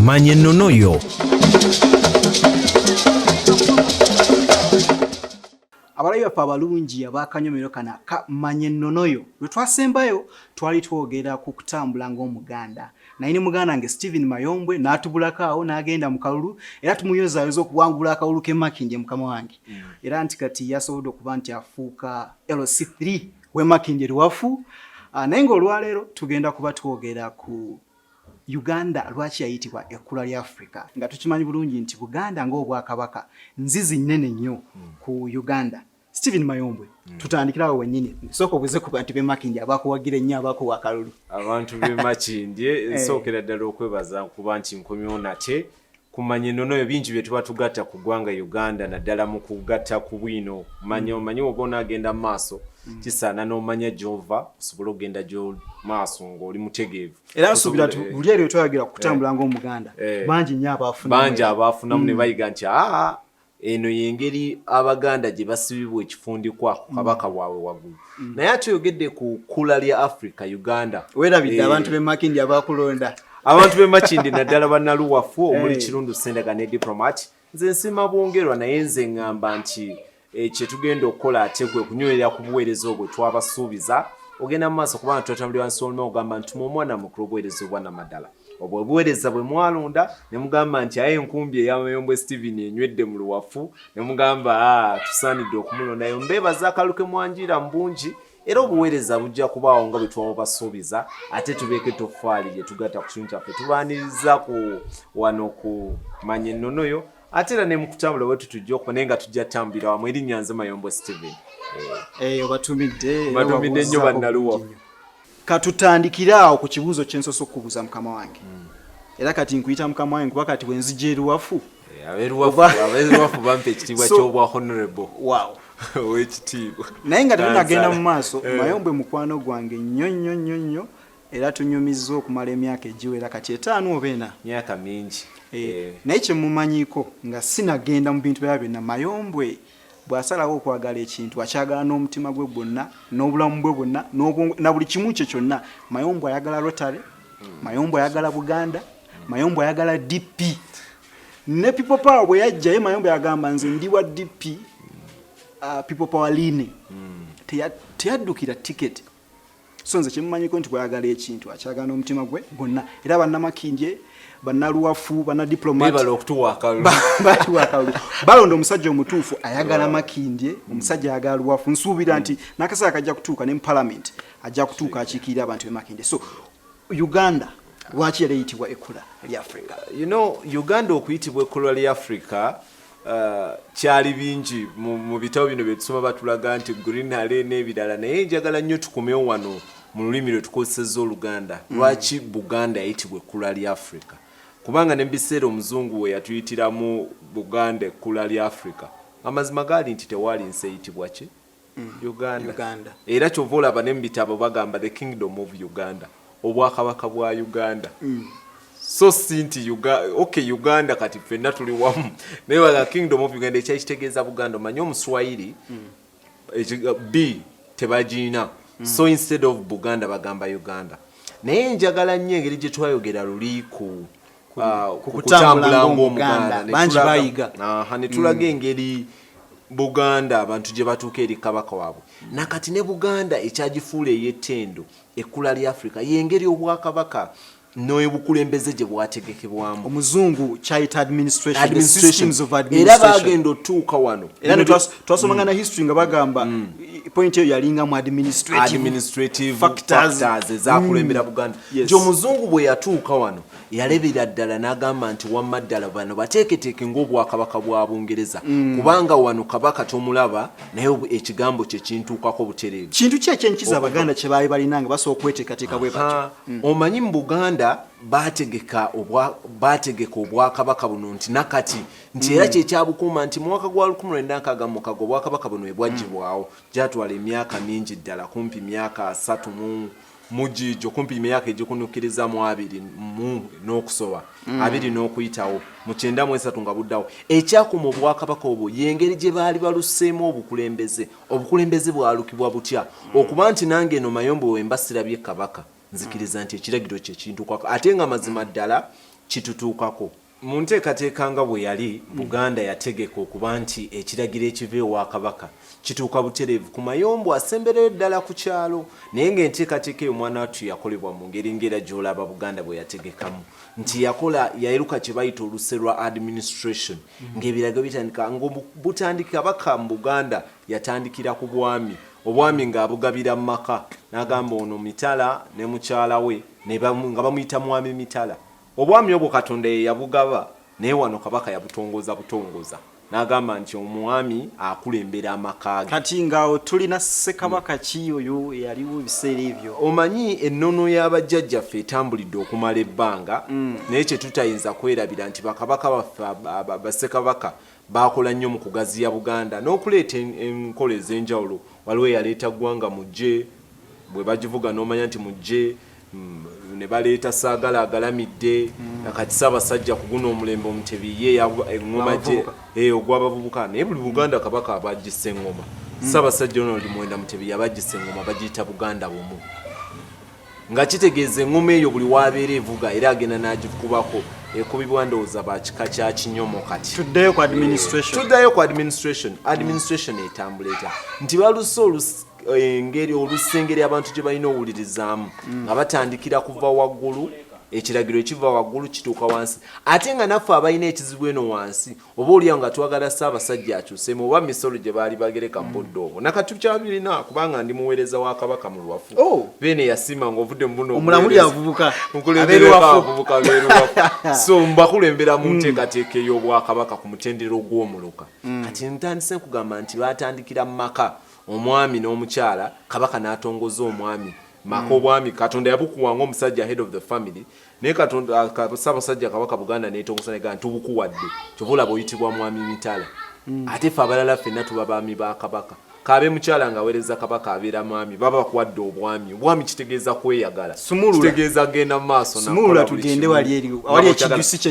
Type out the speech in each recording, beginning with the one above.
manya ennono yo abalabi baffe abalungi abakanyomero kano aka manya ennono yo lwe twasembayo twali twogera ku kutambula ng'omuganda naye ne muganda wange stephen mayombwe n'atubulako awo n'agenda mu kalulu era tumuyozaayoza okuwangula akalulu ke makindye mukama wange mm. era nti kati yasobodde okuba nti afuuka lc3 Wema Kinjeruwafu ah, naye ng'olwaleero tugenda kuba twogera ku Uganda lwaki yayitibwa ekkula lya Africa nga tukimanyi bulungi nti Buganda ng'obwakabaka nzizi nnene nnyo hmm. ku Uganda. Steven Mayombwe hmm. tutandikira awo wennyini nsooka obuze ku bantu b'emakindye abakuwagira ennyo abakuwa akalulu. Abantu b'emakindye eh. nsookera ddala okwebaza kuba nti nkomyewo nate kumanya enono yo bingi byetuba tugatta ku ggwanga uganda naddala mu kugatta ku bwino manya mm. omanyi oba onaagenda mu maaso mm. kisaana n'omanya gyova osobole okugenda gyomaaso ngaoli mutegeevu era nsuubira ti buli eryo twayagira kutambula eh. ngaomuganda eh. bangi nyo abaafunamu bangi abaafunamu ne mm. bayiga nti aa eno yengeri abaganda gye basibibwa ekifundikwa ku kabaka mm. waabwe waggulu mm. naye ate oyogedde ku kkula lya africa uganda werabidde eh. abantu bemakindi abakulonda abantu bemakindi naddala banaluwafu omuli eh. kirundu sendaga ne diplomat nze nsima bwongerwa naye nze ngamba nti eh, kyetugenda okukola ate kwe kunywerera ku buweereza obwe twabasuubiza ogenda mu maaso kubanga tutatambulira wansi oluma ogamba nti mu omwana mukulu obuweereza obwanamaddala obwo obuweereza bwe mwalonda ne mugamba nti aye enkumbi eya Mayombwe Steven enywedde mu luwafu ne mugamba ah, tusaanidde okumulondayo mbeebaza akalu ke mwanjiira mu bungi era obuweereza bujja kubaawo nga bwe twabasuubiza ate tubeeko ettoffaali lye tugatta ku kimu kyaffe tubaaniriza ku wano ku manya ennono yo ate era ne mu kutambula bwe tutujja okuba naye nga tujja tambulira wamu erinnya nze Mayombwe Steven eh, eh, obatumidde nnyo bannaluwafu katutandikire awo ku kibuuzo kyensosa okukubuuza mukama wange hmm. era kati nkuyita mukama wange kuba kati wenzija eruwafu eh, aberuwafu bampa ekitiibwa kyobwa honorable wow owekitiibwa naye nga tetunagenda mu maaso eh. mayombwe mukwano gwange nnyo nnyo nnyo nnyo era tunyumizza okumala emyaka egiwera kati etaano oba ena myaka mingi eh, eh. naye kyemumanyiko nga sinagenda mu bintu byaba byonna mayombwe Bw'asalawo okwagala ekintu, akyagala n'omutima gwe gwonna, n'obulamu bwe bwonna, n'obwongo, na buli kimu kye kyonna. Mayombo ayagala Rotary, Mayombo ayagala Buganda, Mayombo ayagala DP. Ne People Power bwe yajja, ye Mayombo yagamba nze ndi wa DP, uh, People Power line. Teya- Teyaddukira tiketi. so nze kyemumanyiko nti bwayagala ekintu akyagala n'omutima gwe gwonna era bannamakinje bannaluwafu bannadiplomatbatuwakalu balonda omusajja omutuufu ayagala makindye omusajja ayagala luwafu nsuubira nti nakaseera kajja kutuuka ne mu palamenti ajja kutuuka akiikirira abantu bemakindye so uganda lwaki era eyitibwa ekula lya africa you know uganda okuyitibwa ekula lya africa Uh, kyali bingi mu bitabo bino byetusoma batulaga nti greenhale n'ebirala naye njagala nnyo tukomewo wano mu lulimi lwe tukozeseza oluganda mm. lwaki buganda yayitibwa ekkula lya afrika kubanga ne mubiseera omuzungu we yatuyitiramu buganda ekkula lya afrika amazima gaali nti tewaali nsi eyitibwa ki uganda era kyova olaba ne mubitabo bagamba the kingdom of uganda obwakabaka bwa uganda mm. so si nti ok uganda kati fenna tuli wamu naye waga kingdom of uganda ekyakitegeeza buganda omanye omuswayiri mm. b tebagirina mm. so instead of buganda bagamba uganda naye njagala nnyo engeri gye twayogera luli ku kukutambula ng'omuganda netulaga mm. engeri buganda abantu gye batuuka eri kabaka waabwe nakati ne buganda ekyagifuula ey'ettendo ekkula lya afrika yengeri obwakabaka nobukulembeze gye bwategekebwamu omuzungu kyayita administrationera bagenda otuuka wano era twasomanga na mm. history nga bagamba mm. point eyo yalinga mu administrative factors ezakulembera mm. buganda Yes. Nti omuzungu bwe yatuuka wano yalebera ddala n'agamba nti wamma ddala bano bateeketeeke ng'obwakabaka bwa Bungereza mm. kubanga wano kabaka tomulaba naye ekigambo kye kintuukako butereevu. Kintu ki ekyenkiza Abaganda kye baali balina nga basooka okweteekateeka bwe batyo? Mm. Omanyi mu Buganda baategeka obwa baategeka obwakabaka buno nti nakati nti era mm. kyekyabukuuma nti mu mwaka gwa lukumi lwenda nkaaga mukaaga obwakabaka buno bwe bwaggyibwawo gyatwala emyaka mingi ddala kumpi myaka asatu mu mm. Mujiijo kumpi imyaka egikunukiriza mu abiri mu n'okusoba mm. abiri n'okuyitawo mu kyenda mu esatu nga buddawo ekyakuma obwakabaka obwo y'engeri gye baali baluseemu obukulembeze obukulembeze bwalukibwa butya mm. okuba nti nange eno mayombo wemba sirabye kabaka nzikiriza nti ekiragiro kyekintuukako ate nga mazima ddala kitutuukako Mu nteekateeka nga bwe yali, Buganda yategeka okuba nti ekiragiro ekiva ewa Kabaka kituuka butereevu ku mayombo asembereyo ddala ku kyalo, naye ng'enteekateeka eyo mwanawattu yakolebwa mu ngeri ng'era gy'olaba Buganda bwe yategekamu nti yakola yaeruka kye bayita oluse lwa administration ng'ebiragiro bitandika nga butandiki Kabaka mu Buganda yatandikira ku bwami, obwami ng'abugabira mu maka n'agamba ono Mitala ne mukyala we nga bamuyita Mwami Mitala. Obwami obwo Katonda ye yabugaba, naye wano kabaka yabutongoza butongoza n'agamba nti omwami akulembera amaka ge. Kati nga awo tulina Ssekabaka ki oyo eyaliwo ebiseera ebyo? Omanyi ennono ya bajjajjaffe etambulidde okumala ebbanga, naye kye tutayinza kwerabira nti bakabaka baffe, ba, ba, ba, Ssekabaka Baakola nnyo mu kugaziya Buganda n'okuleeta enkola ez'enjawulo. Waliwo eyaleeta Ggwanga Mujje, bwe bagivuga n'omanya nti Mujje, ne baleeta Ssaagala agalamidde, na kati Ssaabasajja ku guno omulembe Omutebi ye eng'oma gye, hee, ogw'Abavubuka. Naye buli Buganda Kabaka aba aggisa eng'oma. Ssaabasajja Ronald Muwenda Mutebi yaba aggisa eng'oma, bagiyita Buganda Bumu. nga kitegeeza engoma eyo buli wabeera evuga era agenda nagikubako ekubibwa ndowooza bakika kya kinyomo kati tuddeyo ku administration tuddayo ku administration administration etambula etya nti baluse olus engeri olusengeri abantu gye balina owulirizaamu mm. nga batandikira kuva waggulu ekiragiro ekiva waggulu kituuka wansi ate nga naffe abalina ekizibu eno wansi oba olya nga twagala ssaabasajja akyusemu oba misolo gye baali bagereka mu budde obwo nakati tukyabirina kubanga ndi muweereza wa kabaka mu lwafu oh. beene yasiima nga ovudde mu buno omulamuliavubukamukulembereabavubuka beeruwafu so mbakulembera mu mm. nteekateeka ey'obwakabaka ku mutendera ogw'omuluka mm. kati ntandise nkugamba nti baatandikira mu maka omwami n'omukyala kabaka n'atongoza omwami maka mm. obwami katonda yabukuwa ngaomusajja head of the family naye katonda sabasajja kabaka buganda netongosa nega ntubukuwadde kyova olaba oyitibwa mwami mitala mm. ate fe abalala fenna tuba baami ba kabaka kabe mukyala nga awereza kabaka abeera mwami baba bakuwadde obwami obwami kitegeeza kweyagala kitegeeza genda mu maaso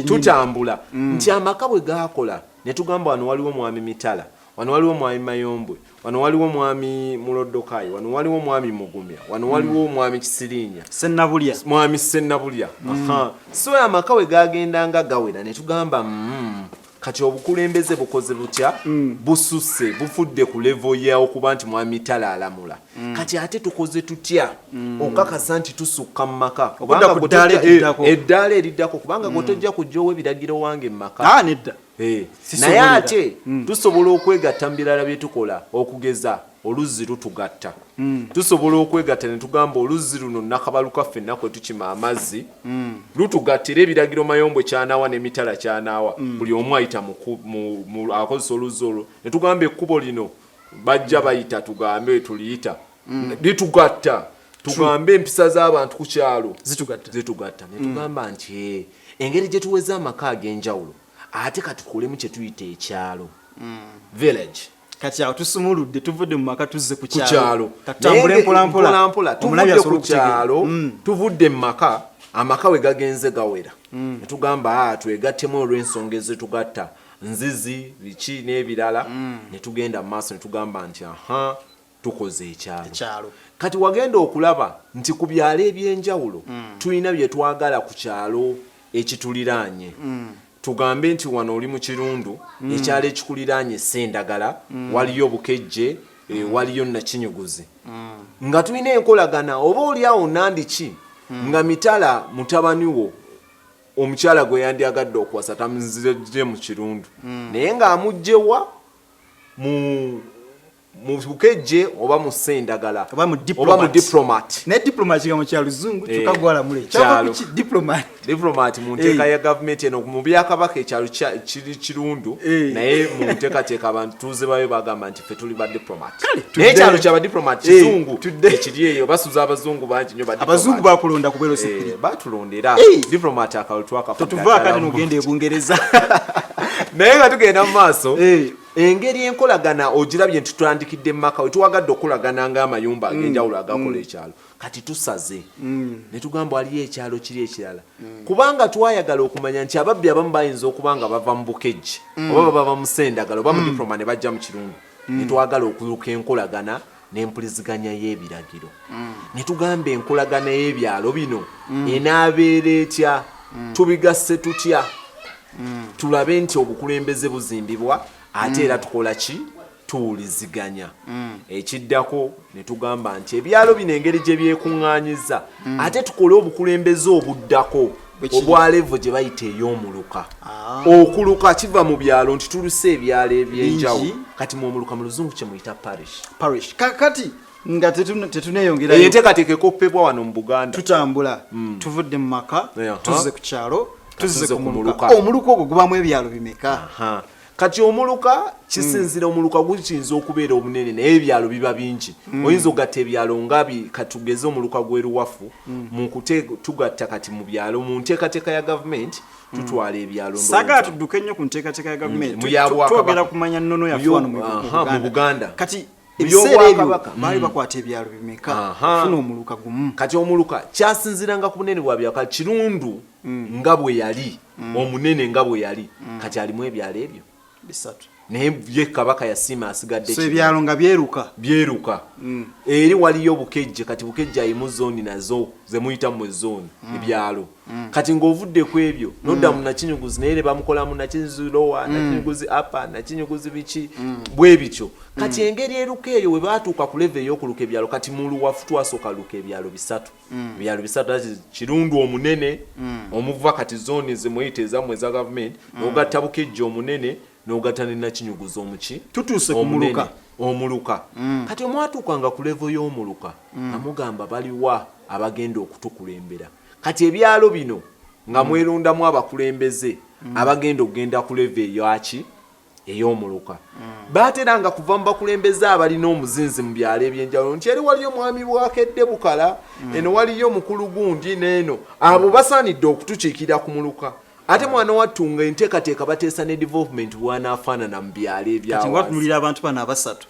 tutambula mm. nti amaka bwe gakola netugamba wano waliwo mwami mitala wano waliwo mwami mayombwe wano waliwo mwami mulodokayi wano waliwo mwami mugumya wano waliwo mm. mwami kisirinya senabulya mwami senabulya mm. so amaka we gagendanga gawera netugamba mm, kati obukulembeze bukoze butya mm. bususe bufudde ku levo ya okuba nti mwami tala alamula mm. kati ate tukoze tutya mm. okakasa nti tusukka mu maka eddaala eriddako kubanga mm. gotojja kujja owa ebiragiro wange mu maka ah, nedda Eh, naye ate mm. tusobola okwegatta mu birala bye tukola okugeza oluzzi lutugatta mm. tusobola okwegatta ne tugamba oluzzi luno nakabaluka ffenna kwe tukima amazzi mm. lutugatta era ebiragiro mayombwe kyanaawa n'emitala kyanaawa buli omu ayita akozesa oluzzi olwo ne tugamba ekkubo lino bajja bayita tugambe tuliyita mm. bitugatta tugambe empisa z'abantu ku kyalo zitugatta mm. netugamba nti eh, engeri gye tuweza amaka ag'enjawulo ate katukolemu kye tuyita ekyalo mm. village kati awo tusumuludde tuvudde mu maka tuzze ku kyalo katambule mpolampola tuvudde ku kyalo mm. tuvudde mu maka amaka we gagenze gawera mm. netugamba ah, twegattemu olw'ensonga ezitugatta nzizi biki n'ebirala mm. netugenda mu maaso netugamba nti aha tukoze ekyalo ekyalo kati wagenda okulaba nti ku byalo ebyenjawulo mm. tulina bye twagala ku kyalo ekituliraanye mm. tugambe nti wano oli mu kirundu mm. ekyalo ekikuliraanye sendagala mm. waliyo bukejje e, mm. waliyo nakinyuguzi mm. nga tulina enkolagana oba oli awo nandiki mm. nga mitala mutabani wo omukyala gwe yandyagadde okuwasa tamuzije mu kirundu mm. naye ng'amugjewa mu mu bukejje oba mu sendagala oba mu oba mu diplomat ne diplomat kigambo kya luzungu eh, kyokka gwalamula ekyalo diplomat diplomat mu nteeka eh. ya gavumenti eno mu byakabaka ekyalo kiri kirundu eh. naye mu nteekateeka abantu tuuze bayo bagamba nti ffe tuli ba diplomat naye ekyalo kya badiplomat kizungu ekiri eyo basuza abazungu bangi nyo abazungu bakulonda kubeera osikiri batulonda era diplomat akalutwakafo totuvaakale nogenda ebungereza naye nga tugenda mu maaso Engeri enkolagana ogirabye nti tutandikidde mu maka we tuwagadde okukolagana ng'amayumba mm, ag'enjawulo agakola mm. ekyalo kati tusaze mm. ne tugamba waliyo ekyalo kiri ekirala kubanga twayagala okumanya nti ababbi abamu bayinza okuba nga bava mu bukejji oba baba bamusendagala oba mu diploma ne bajja mu kirungu ne twagala okuyuka enkolagana n'empuliziganya y'ebiragiro mm. ne tugamba enkolagana y'ebyalo bino mm. enaabeera etya mm. tubigasse tutya tulabe nti obukulembeze buzimbibwa ate era tukola ki tuwuliziganya ekiddako ne tugamba nti ebyalo bino engeri gye byekuŋŋaanyiza ate tukole obukulembeze obuddako obwalevu gye bayita ey'omuluka ah. okuluka kiva mu byalo nti tuluse ebyalo ebyenjawulo kati mu omuluka mu luzungu kye muyita parish parish kakati nga tetuneyongera eyo enteekateeka ekoppebwa wano mu buganda tutambula hmm. tuvudde mu maka tuzze ku kyalo tuzze ku muluka omuluka ogwo gubamu ebyalo bimeka kati omuluka kisinzira mm. omuluka gukiyinza okubeera omunene naye ebyalo biba bingi mm. oyinza ogatta ebyalo nga katugeze omuluka gweruwafu mm. mukute tugatta kati mu byalo mu nteekateeka ya gavumenti tutwala ebyalo sagala tudduke nnyo ku nteekateeka ya gavumenti twogera kumanya nnono yafuwano mu buganda kati ebiseeraebaka baali hmm. bakwata ebyalo bimeka funa omuluka gumu kati omuluka kyasinziranga ku bunene bwa byaka kirundu mm. nga bwe yali mm. omunene nga bwe yali mm. kati alimu ebyalo ebyo bisatu naye ye kabaka yasiima asigadde so ebyalo nga byeruka byeruka mm. eri waliyo obukejje kati bukejje ayimu zooni nazo zemuyita mu ezooni mm. ebyalo mm. kati ng'ovudde ku ebyo mm. nodda mu nakinyuguzi naye ne bamukolamu nakinyuguzi lowa mm. nakinyuguzi apa nakinyuguzi biki mm. bwe bityo kati mm. engeri eruka eyo we baatuuka ku leve ey'okuluka ebyalo kati muluwafu twasooka luka ebyalo bisatu mm. byalo bisatu ati kirundu omunene mm. omuva kati zone zimuyita ezamwe za government mm. ogatta bukejja omunene n'ogatta ne nakinyuguza omuki tutuuse ku muluka omuluka mm. kati omwatuukanga ku levo y'omuluka mm. amugamba baliwa abagenda okutukulembera kati ebyalo bino nga mm. mwerundamu abakulembeze mm. abagenda okugenda ku levo eyoaki ey'omuluka baateranga kuva mu bakulembeze abalina omuzinzi mu byalo ebyenjawulo nti eri waliyo mwami bwakedde bukala mm. eno waliyo mukulu gundi neeno abo basaanidde okutukiikirira ku muluka ate mm. mwana wattu nga enteekateeka bateesa ne development bwanaafaanana mu byalo ebyawatunulira abantu bano abasatu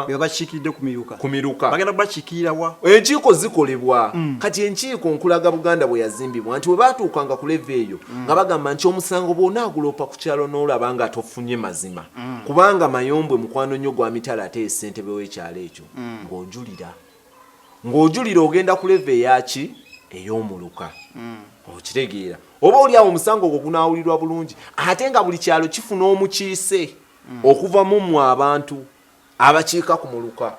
bebabakiikiridde kumiruka kumiruka bagenda bakikiirawa enkiiko zikolebwa mm. kati enkiiko nkulaga buganda bwe yazimbibwa nti webatuukanga ku leva eyo mm. nga bagamba nti omusango bwona aguloopa ku kyalo n'olaba nga tofunye mazima mm. kubanga mayombwe mukwano nnyo gwa mitala ate esentebe w'ekyalo ekyo mm. ng'ojulira ng'ojulira ogenda ku leva eyaki ey'omuluka mm. okitegeera oba oli awo omusango ogwo gunaawulirwa bulungi ate nga buli kyalo kifuna omukiise okuva mu mwe abantu abakiika ku muluka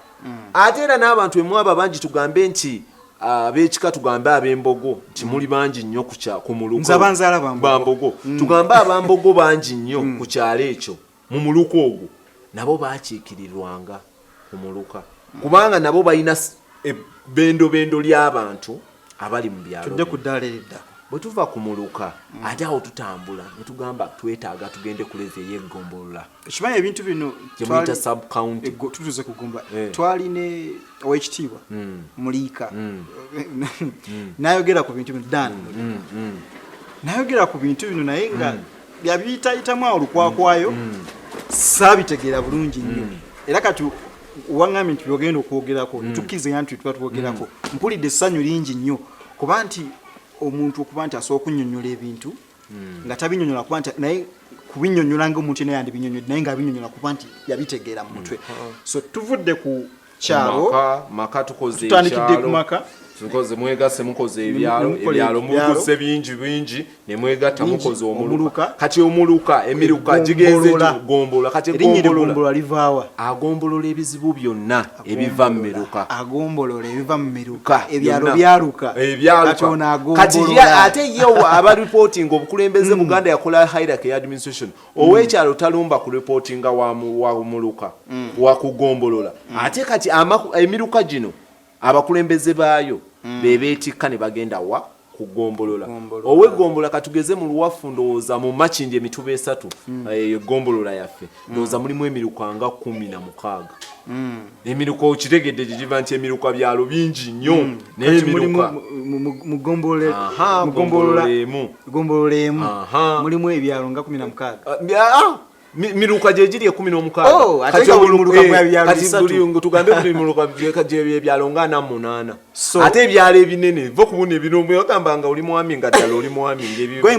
ate era n'abantu emwabo abangi tugambe nti abekika tugambe abembogo nti mm. muli bangi nnyo ku mulukobambogo mm. tugambe abambogo bangi nnyo mm. ku kyalo ekyo mu muluka ogwo nabo bakiikirirwanga ku muluka kubanga nabo balina ebbendobendo ly'abantu abali mu byalo tudde ku ddaala eridda bwe tuva ku muluka mm. ate awo tutambula ne tugamba twetaaga tugende ku levi ey'eggombolola ekimanyi ebintu bino gyemuyita subcounty tutuze kugumba eh. twali ne owekitiibwa mm. muliika mm. nayogera ku bintu bino dan nayogera ku bintu bino naye nga byabiyitayitamu awo lukwakwayo mm. saabitegeera bulungi nnyo mm. era kati waŋŋambye nti byogenda okwogerako mm. tukkiriza nti tuba twogerako mm. mpulidde essanyu lingi nnyo kuba nti omuntu okuba nti asobola okunyonyola ebintu mm. nga tabinyonyola kuba nti naye kubinyonyola nga omuntu yena yandibinyonyode naye nga abinyonyola kuba nti yabitegeera mu mutwe so tuvudde ku kyalo maka tukoze tutandikidde ku maka tukoze mwegase mukoze ebyalo ebyalo mukoze bingi bingi ne mwegata mukoze omuluka kati omuluka emiruka gigenze gombola kati gombola livawa agombolola ebizibu byonna ebiva mu miruka agombolola ebiva mu miruka ebyalo byaluka ebyalo kati ate yewa aba reporting obukulembeze mm. buganda yakola hierarchy administration Mm. owekyalo talumba ku reportinga wamuluka mm. wakugombolola mm. ate kati emiruka gino abakulembeze baayo bebetikka ne bagenda wa kugombolola owegombola katugeze mu luwafu ndowooza mu makindi emituba esatu eyo eh, egombolola yaffe ndowooza mulimu emiruka nga kumi na mukaaga emiruka okitegedde gyegiva nti emiruka byalo bingi nnyo hmm. naye emiruka mugombolola emu mulimu ebyalo nga kumi na mukaaga ah, ah, miruka gyegiri ekumi n'omukaagatugambe eh, buli miruka gyebyalo nga ana munaana ate ebyalo ebinene va okubuna ebinogamba nga oli mwami nga ddala oli mwami ngebyhome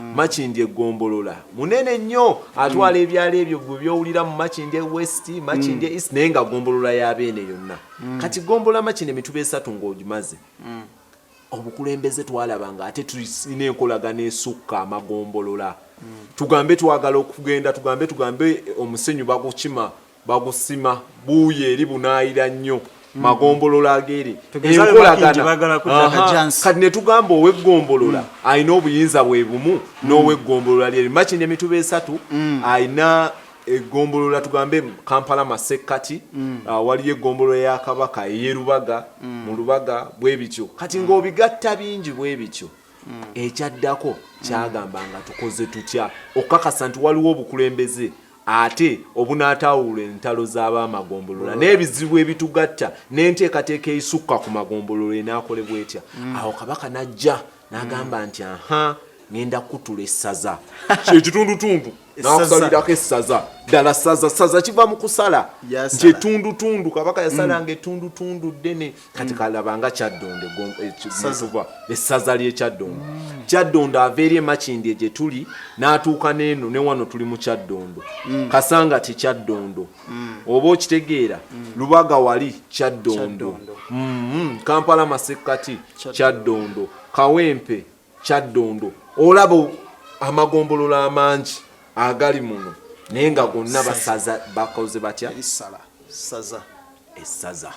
Mm. makindi egombolola munene nnyo atwala mm. ebyalo ebyo gwe byowulira mu makindi ewest makindi mm. east naye nga gombolola yabeene yonna kati gombolola makindi emituba esatu ngaogimaze obukulembeze twalaba nga ate tulina enkolagana esukka amagombolola tugambe twagala okugenda tugambe tugambe omusenyu bagukima bagusima buuyi eri bunaayira nnyo mm. magombolola ageeri enkolagana kati ne tugamba oweggombolola mm. alina obuyinza bwe bumu mm. n'oweggombolola lyeri makindi emituba esatu alina eggombolola tugambe kampala masekkati ah, waliyo eggombolola ya kabaka eyerubaga mu lubaga bwe bityo kati ng'obigatta bingi bwe bityo ekyaddako kyagamba nga tukoze tutya okukakasa nti waliwo obukulembeze ate obunaataawulula entalo z'abaamagombolola mm. n'ebizibu ebitugatta n'enteekateeka eisukka ku magombolola enaakolebwa etya mm. awo kabaka n'ajja n'agamba nti aha ngenda kutula essaza kyekitundutundu nakusalirako essaza ddala saza saza kiva mu kusala nti etundutundu kabaka yasalanga mm. etundutundu ddene kati mm. kalaba nga kyaddondo esaza eh, essaza ly'ekyaddondo mm. kyaddondo ava eri emakindi egye tuli n'atuuka n'eno ne wano tuli mu kyaddondo mm. kasanga ti kyaddondo oba okitegeera lubaga wali kyaddondo mm-hmm. kampala masekkati kyaddondo kawempe kyaddondo olaba amagombolola amangi agali muno naye nga gonna basaza bakoze batya essaza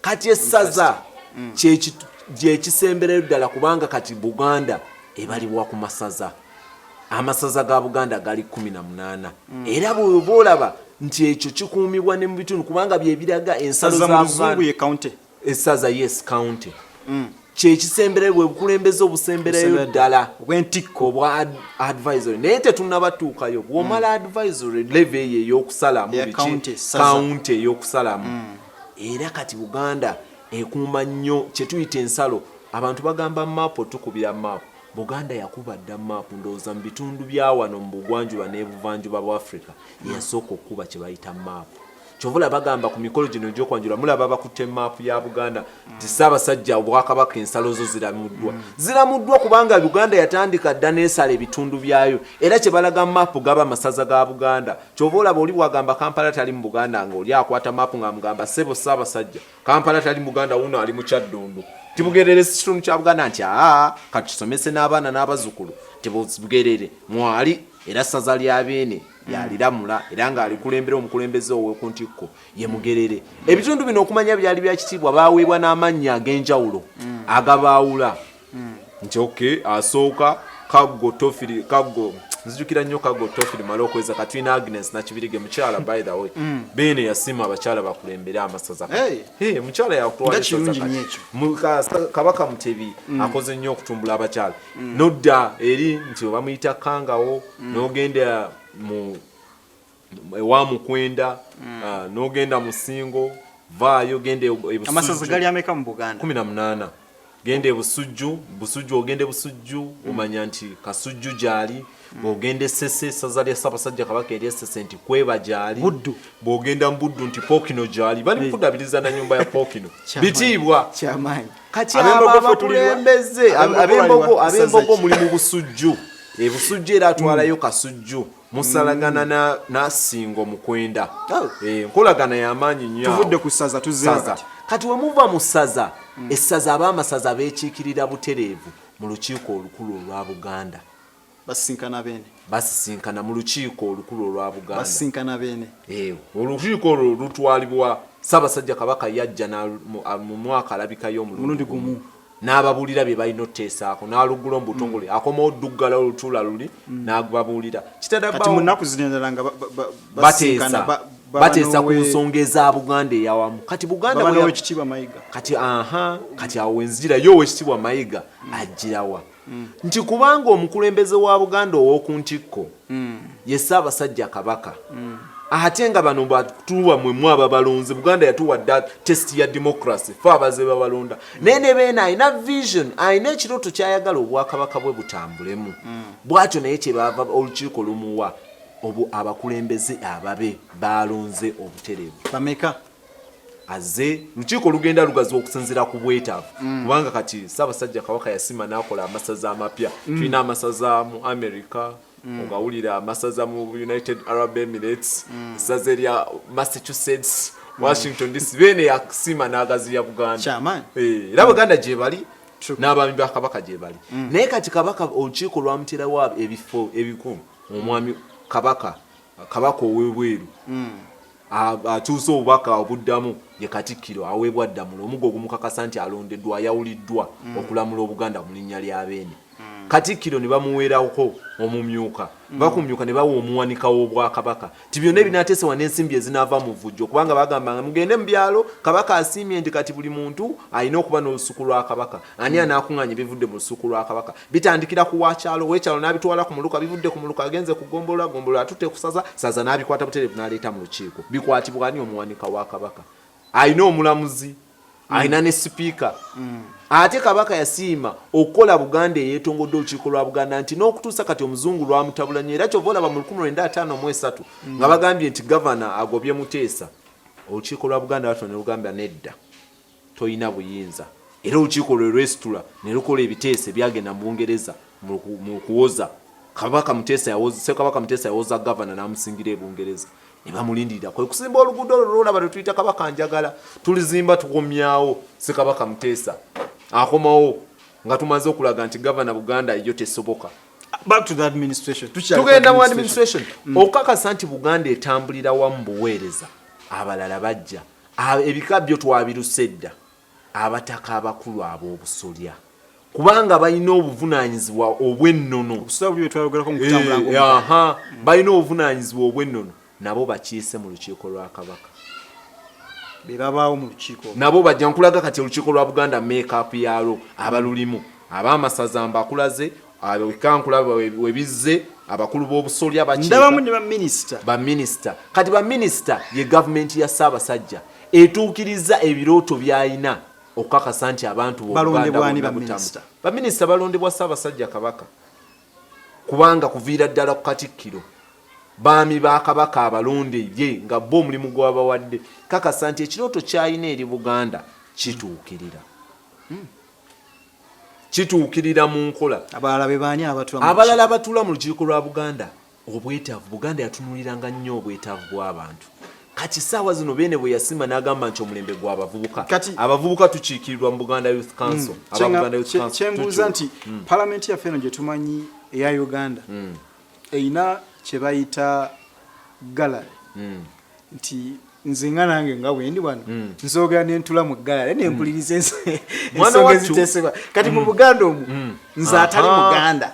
kati essaza mm. gyekisemberayo ddala kubanga kati buganda ebalibwa ku masaza amasaza ga buganda gali kumi na munaana mm. era bweoba olaba nti ekyo kikuumibwa ne mu bitundu kubanga byebiraga ensalo za buganda essaza yes county mm. kyekisemberayo bwebukulembeze obusemberayo ddala obwentikko obwa advisory naye tetunabatuukayo bwomala mm. advisory leve eyo eyokusalamu county eyokusalamu mm. era kati buganda ekuuma nnyo kyetuyita ensalo abantu bagamba maapu otukubira maapu buganda yakuba dda maapu ndowooza mu bitundu byawano mu bugwanjuba nebuvanjuba bwa africa yasooka okukuba kyebayita maapu kyovula bagamba ku mikolo gino egyokwanjula mulaba bakutte maapu ya buganda nti ssaabasajja obwakabaka ensalo zo ziramuddwa ziramuddwa kubanga uganda yatandika dda neesala ebitundu byayo era kye balaga maapu gaba amasaza ga buganda kyova olaba oli bwagamba kampala tali mu buganda nga oli akwata maapu nga mugamba sebo ssaabasajja kampala tali mu buganda wuno ali mu kyaddundu tibugerere sikitundu kya buganda nti aa katusomese n'abaana n'abazukulu tibugerere mwali era ssaza lya beene yaliramula era ng'alikulembera omukulembeze ow'oku ntikko ye mugerere ebitundu bino okumanya byali bya kitiibwa baaweebwa n'amannya ag'enjawulo mm. agabaawula mm. nti oke asooka kaggo tofiri kaggo nzijukira nnyo kaggo tofiri mala okweza katwina agnes nakibirige mukyala by the way mm. beene yasiima abakyala bakulembere amasaza mukyala yakutwalkabaka mutebi akoze nnyo okutumbula abakyala nodda eri nti obamuyita kangawo mm. nogenda mu ewa mukwenda mm. ah, nogenda musingo vaayo genda eamasaza gali ameka mu buganda kumi na munaana genda ebusujju busujju ogenda ebusujju mm. omanya nti kasujju gyali bwogenda esese esaza lya ssabasajja kabaka eri esese nti kweba gyali bwogenda mubuddu nti pokino gyali bali mukudabiriza nanyumba ya pokino bitiibwa kati abo abakulembeze abembogo abembogo muli mu busujju ebusujju era atwalayo kasujju musalagana mm. nasingo mukwenda oh. eh, nkolagana yamaanyi nyo tuvudde ku saza tuzaza kati wemuva mu saza mm. essaza abaamasaza bekiikirira butereevu mu lukiiko olukulu olwa buganda Basisinkana Beene. Basisinkana mu lukiiko olukulu olwa Buganda. Basisinkana Beene. Eewo. Eh, olukiiko olwo lutwalibwa Ssaabasajja Kabaka yajja mu mwaka alabikayo omulundi gumu n'ababuulira bye balina oteesaako n'aluggula mu butongole mm. akomawo duggala olutuula luli mm. n'ababuulira kitadakati mu nnaku zino endala nga bateesa bateesa ku nsonga eza buganda eyawamu kati buganda kati aha kati awo wenzijirayo owekitiibwa mayiga ajjirawa mm. nti kubanga omukulembeze wa buganda ow'oku ntikko mm. ye ssaabasajja kabaka mm. ate nga bano batuwa mwemu ababalonzi buganda yatuwa da test ya democracy fe abaze babalonda naye ne beena alina vision alina ekirooto kyayagala obwakabaka bwe butambulemu mm. bwatyo naye kyebaava olukiiko lumuwa obu abakulembeze ababe balonze obutereevu bameka aze lukiiko olugenda lugaziwa okusinzira ku bwetaavu mm. kubanga kati ssaabasajja kabaka yasima n'akola amasaza amapya mm. tulina amasaza mu america mm. ogawulira amasaza mu united arab emirates essaza erya massachusetts washington dc beene yasima n'agaziya buganda eh, era buganda gyebali n'abaami ba kabaka gyebali naye kati kabaka olukiiko lwamuterawo ebifo ebikumu omwami kabaka kabaka owebweru mm. akyusa obubaka obuddamu ye katikkiro aweebwa ddamula omugo ogumukakasa nti alondeddwa ayawuliddwa mm. okulamula obuganda mu linnya lya beene mm. katikkiro ne bamuweerako omumyuka mm. bakumyuka ne bawa omuwanika w'obwakabaka nti byonna ebinateesewa n'ensimbi ezinaava mu vujjo kubanga bagamba nga mugende mu byalo kabaka asiimye nti kati buli muntu alina okuba n'olusuku lwa kabaka ani anaakuŋŋaanya ebivudde mu lusuku lwa kabaka bitandikira ku wakyalo wekyalo n'abitwala ku muluka bivudde ku muluka agenze ku gombolola gombolola atutte kusaza saza n'abikwata butereevu n'aleeta mu lukiiko bikwatibwa ani omuwanika wa kabaka alina omulamuzi alina ne sipiika ate kabaka yasiima okukola buganda eyetongodde olukiiko lwa buganda nti n'okutuusa kati omuzungu lwamutabula nnyo era kyova olaba mu 1953 nga bagambye nti gavana agobye muteesa olukiiko lwa buganda batona olugambya nedda Tolina buyinza era olukiiko lwe lwesitula ne lukola ebiteeso ebyagenda mu Bungereza mu kuwoza Kabaka Muteesa yawoza Ssekabaka Muteesa yawoza Gavana n'amusingira e Bungereza ne bamulindirira kwe kusimba oluguudo olwo lw'olaba lwe tuyita Kabaka Njagala tulizimba tukomyawo Ssekabaka Muteesa akomawo nga tumaze okulaga nti Gavana Buganda yo tesoboka back to the administration tugenda mu administration mm. okakasa nti buganda etambulira wamu buweereza abalala bajja ebika byo twabiruse edda abataka abakulu ab'obusolya kubanga balina obuvunaanyizibwa obw'ennono eh, balina obuvunaanyizibwa obw'ennono nabo bakiise mu lukiiko lwa kabaka bebabaawo mu lukiiko nabo bajja nkulaga kati olukiiko lwa buganda makeup yaalwo abalulimu abaamasaza mbakulaze abo ekankula webizze abakulu b'obusolya bakidabamu ne baminisita baminisita kati baminisita ye gavumenti ya ssaabasajja etuukiriza ebirooto by'alina okukakasa nti abantu baminisita balondebwa ssaabasajja kabaka kubanga kuviira ddala ku katikkiro baami ba kabaka abalonde ye nga bo omulimu gwabawadde kakasa nti ekirooto kyalina eri buganda kituukirira hmm. kituukirira mu nkola abalala be baani abatula abalala abatula mu lukiiko lwa buganda obwetaavu buganda yatunuliranga nnyo obwetaavu bw'abantu kati saawa zino beene bwe yasima n'agamba nti omulembe gwa abavubuka abavubuka tukiikirirwa mu buganda youth council hmm. kyenbuuza nti hmm. palamenti yaffe eno gye tumanyi eya uganda hmm. erina kye bayita gallery hmm. nti nze nga nange nga bwendi wano hmm. nzogera nentula mu gallery hmm. nempuliriza ensonga ezitesebwa kati mu buganda omu nze atali muganda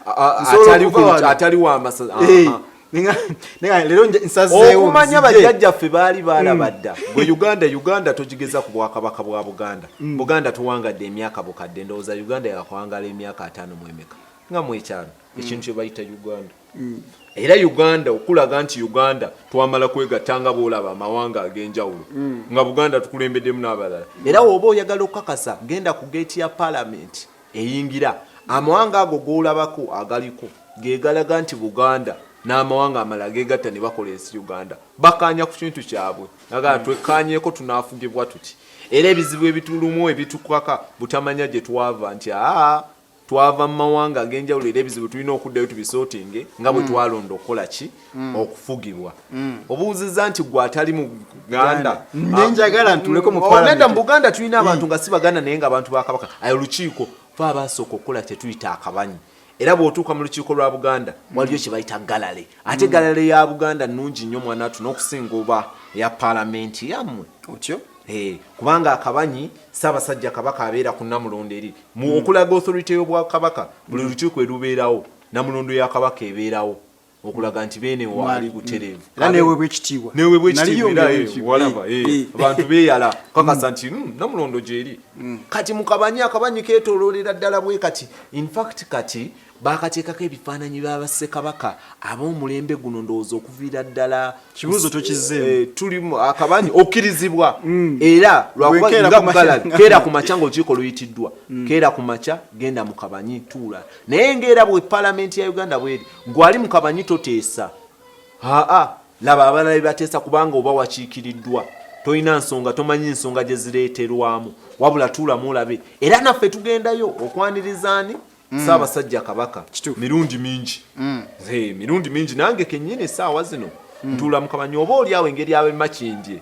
atali wamasa eh. okumanya oh, bajjajjaffe baali baalabadda mm. gwe uganda uganda togigeza ku bwakabaka bwa buganda mm. buganda tuwangadde emyaka bukadde ndowooza uganda yakwangala emyaka ataano mwemeka nga mwekyano ekintu kyebayita uganda mm. era uganda okulaga nti uganda twamala kwegatta nga boolaba amawanga ag'enjawulo mm. nga buganda tukulembeddemu n'abalala mm. era woba oyagala okukakasa genda ku geeti ya palamenti eyingira amawanga ago golabako agaliko gegalaga nti buganda n'amawanga amala gegatta ne bakola ensi uganda bakaanya ku kintu kyabwe agala twekkaanyeko tunaafugibwa tuti era ebizibu ebitulumu ebitukaka butamanya gye twava nti aa twava mu mawanga ag'enjawulo era ebizibu tulina okuddayo tubisotinge nga bwe mm. twalonda okukola ki mm. okufugibwa mm. obuuzizza nti gwe atali mu uganda nenjagala ntuleko mu oh, nedda mu buganda tulina abantu nga si baganda naye nga abantu ba kabaka ayo lukiiko fe abaasooka okukola kyetuyita akabanyi era bwotuuka mu lukiiko lwa buganda waliyo kyebayita galale ate galale ya buganda nungi nnyo mwana watu n'okusinga oba eya palamenti yammwe otyo eh, kubanga akabanyi saabasajja kabaka abeera ku namulondo eri Mu mm. okulaga authority y'Obwakabaka, buli mm. lukiiko erubeerawo namulondo ya Kabaka ebeerawo okulaga nti beene waali butereevu mm. era neweebwa ekitiibwa neweebwa ekitiibwa era eh, walaba eh, eh. abantu beeyala kakasa nti hmm, namulondo gyeri kati mukabanye akabanyi keetooloolera ddala bwe kati infact kati Baakateekako ebifaananyi bya Bassekabaka ab'omulembe guno ndowooza okuviira ddala kibuuzo tokizzeemu eh, tulimu akabanyi okkirizibwa mm. era lwakubakeera ku makya ng'olukiiko luyitiddwa mm. keera ku makya genda mu kabanyi tuula naye ng'era bwe palamenti ya uganda bweri gwali mu kabanyi toteesa aa laba abalala bebateesa kubanga oba wakiikiriddwa tolina nsonga tomanyi nsonga gye zireeterwamu wabula tuulamu olabe era naffe tugendayo okwanirizaani mm. saabasajja kabaka mirundi mingi mm. mirundi mingi nange kenyini esaawa zino mm. ntuula mukamanya oba oli awo engeri abemakindye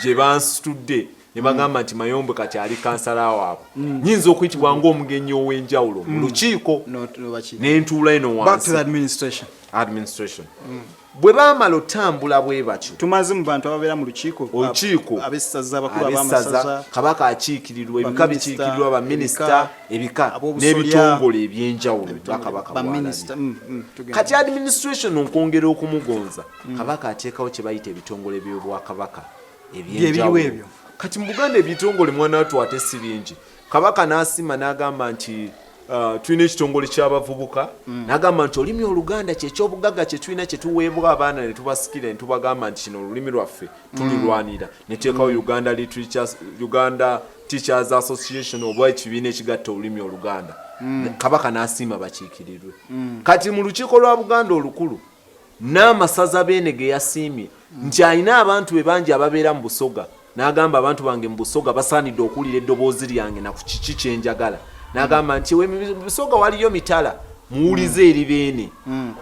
gye bansitudde ne bagamba nti mayombe kati ali kansala waabwe nyinza okuyitibwa ngaomugenyi ow'enjawulo mu lukiiko nentuula eno wansi administration bwe baamala otambula bwe batyo tumaze mu bantu ababeera mu lukiiko olukiiko abessaza abakulu ab'amasaza kabaka akiikirirwa ebika bikiikirirwa baminisita ebika n'ebitongole ebyenjawulo bakabaka mm, mm, kati administration okwongera okumugonza mm. kabaka ateekawo kye bayita ebitongole by'obwakabaka ebyenjawulo kati mu buganda ebitongole mwana watu ate si bingi kabaka n'asima n'agamba nti uh, tulina ekitongole ky'abavubuka mm. n'agamba nti olulimi oluganda kyekyobugagga kyetulina kyetuweebwa abaana ne tubasikira ne tubagamba nti kino olulimi lwaffe mm. tululwanira mm. neteekawo mm. uganda literatures uganda teachers association oba ekibiina ekigatta olulimi oluganda mm. kabaka n'asiima bakiikirirwe mm. kati mu lukiiko lwa buganda olukulu Nnaamasaza Beene ge yasiimye nti alina abantu be bangi ababeera mu Busoga n'agamba abantu bange mu Busoga basaanidde okuwulira eddoboozi lyange na ku kiki kye njagala n'agamba nti mu Busoga waliyo mitala muwulize mm. eri Beene mm.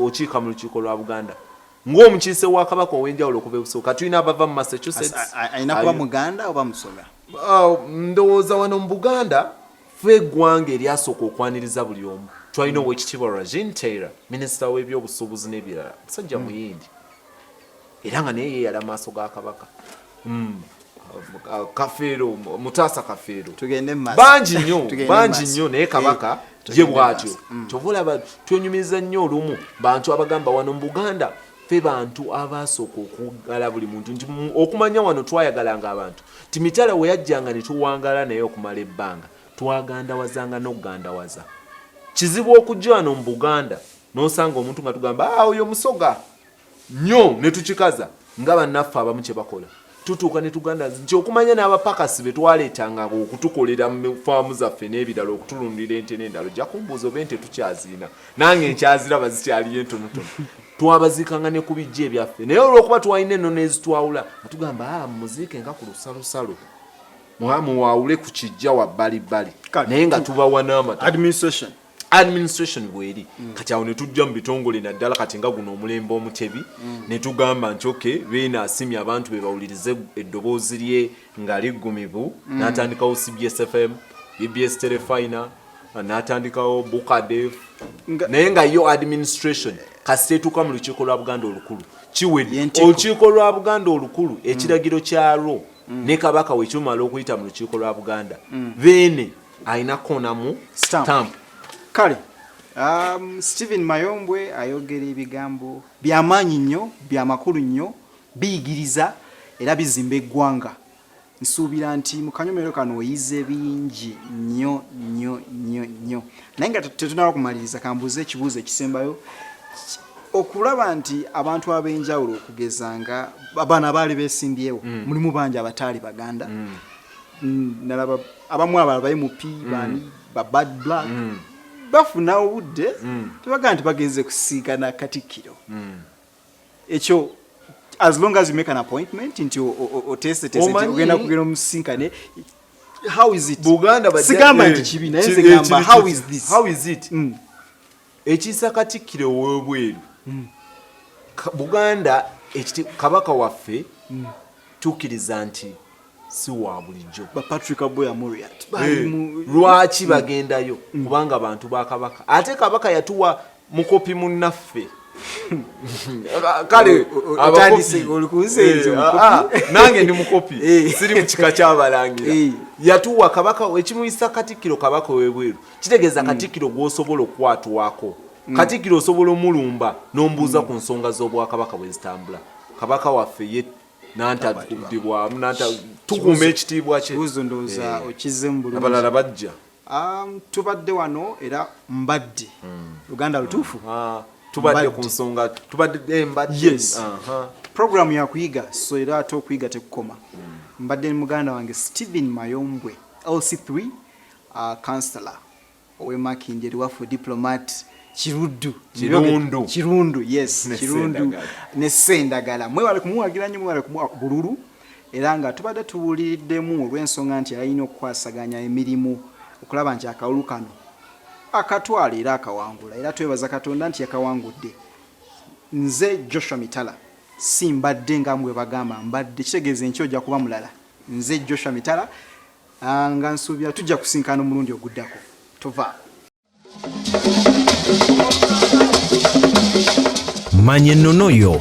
okiika mu lukiiko lwa Buganda ng'omukiise wa Kabaka ow'enjawulo okuva e Busoga tulina abava mu Massachusetts alina kuba Muganda oba Musoga oh, ndowooza wano mu Buganda ffe eggwanga eryasooka okwaniriza buli omu twalina mm. owekitiibwa Rajin Taylor minisita w'ebyobusuubuzi n'ebirala musajja mm. muyindi era nga naye yeeyala maaso ga kabaka mm. kafeero mutaasa kafeero bangi nnyo bangi nnyo naye kabaka eh. ye bwatyo mm. kyova olaba twenyumiriza nnyo olumu bantu abagamba wano mu buganda ffe bantu abaasooka okuwagala buli muntu nti okumanya wano twayagalanga abantu nti mitala we yajjanga ne tuwangala naye okumala ebbanga twagandawazanga n'okugandawaza kizibu okujja wano mu buganda n'osanga omuntu nga tugamba ah, oyo musoga nnyo ne tukikaza nga bannaffe abamu kye bakola tutuuka ne tuganda nti okumanya n'abapakasi be twaleetanganga okutukolera mu faamu zaffe n'ebirala okutulundira ente n'endala ojja kumbuuza oba ente tukyazirina nange nkyaziraba zikyaliyo entonotono twabaziikanga ne ku bijja ebyaffe naye olw'okuba twalina ennono ezitwawula nga tugamba a ah, muziike nga ku lusalosalo muwaawule ku kijja wabbalibbali naye nga tubawa n'amata administration bweri mm. kati awo netujja mu bitongole naddala kati nga guno omulembe omutebi mm. netugamba nti ok beena asimye abantu be bawulirize eddoboozi lye nga liggumivu mm. natandikawo cbs fm bbs telefina natandikawo bukadef naye nga yo administration kasita etuuka mu lukiiko lwa buganda olukulu kiwedde olukiiko lwa buganda olukulu mm. ekiragiro kyalwo mm. ne kabaka wekyumala okuyita mu lukiiko lwa buganda mm. beene alina konamu stamp kale um, stephen mayombwe ayogera ebigambo byamaanyi nnyo byamakulu nnyo biyigiriza era bizimba eggwanga nsuubira nti mu kanyomero kano oyize bingi nnyo nnyo nnyo nnyo naye nga tetunaba kumaliriza kambuuza ekibuuzo ekisembayo okulaba nti abantu ab'enjawulo okugeza nga abaana baali besimbyewo mm. mulimu bangi abataali baganda mm. Mm, nalaba abamu abala bayi mupi mm. bani ba bad black mm. bafuna obudde tebagaa nti bagenze kusiigana katikkiro ekyo as long as you make an appointment nti oteeseteeseogenda kugenda omusinkane sigamba nti kibi naye nze gamba how is this how is it Ekiisa Katikkiro ow'ebweru Buganda ekiti Kabaka waffe mm. tukkiriza nti si wa bulijjo eh, lwaki mm. bagendayo mm. kubanga bantu ba kabaka ate kabaka yatuwa mukopi munnaffe kale nange ndi mukopi eh. siri mu kika kyabalangira eh. yatuwa kabaka ekimuyisa katikkiro kabaka webweru kitegeeza hmm. katikkiro gwosobola okukwatwako hmm. katikkiro osobola omulumba nombuuza hmm. ku nsonga z'obwakabaka bwe zitambula kabaka waffe ye nantatudibwamu tukuuma ekitiibwa kyeabalala eh. bajja um, tubadde wano era mbadde luganda lutuufu ah, tubadde ku nsonga tubadde eh, mbadde programu yakuyiga so era ate okuyiga tekukoma mbadde muganda wange stephen mayombwe lc3 Councillor owe Makindye Luwafu Diplomat Kiruddu Kirundu Kirundu yes Kirundu ne Sendagala mwebale kumuwagira nnyo mwebale kumuwa bululu era nga tubadde tuwuliriddemu olw'ensonga nti alina okukwasaganya emirimu okulaba nti akalulu kano akatwala era akawangula era twebaza Katonda nti yakawangudde nze Joshua Mitala si mbadde nga mwe bagamba mbadde kitegeeza enkya ojja kuba mulala nze Joshua Mitala Ah, nga nsuubira tujja kusinkana omulundi oguddako tovaako manya ennono yo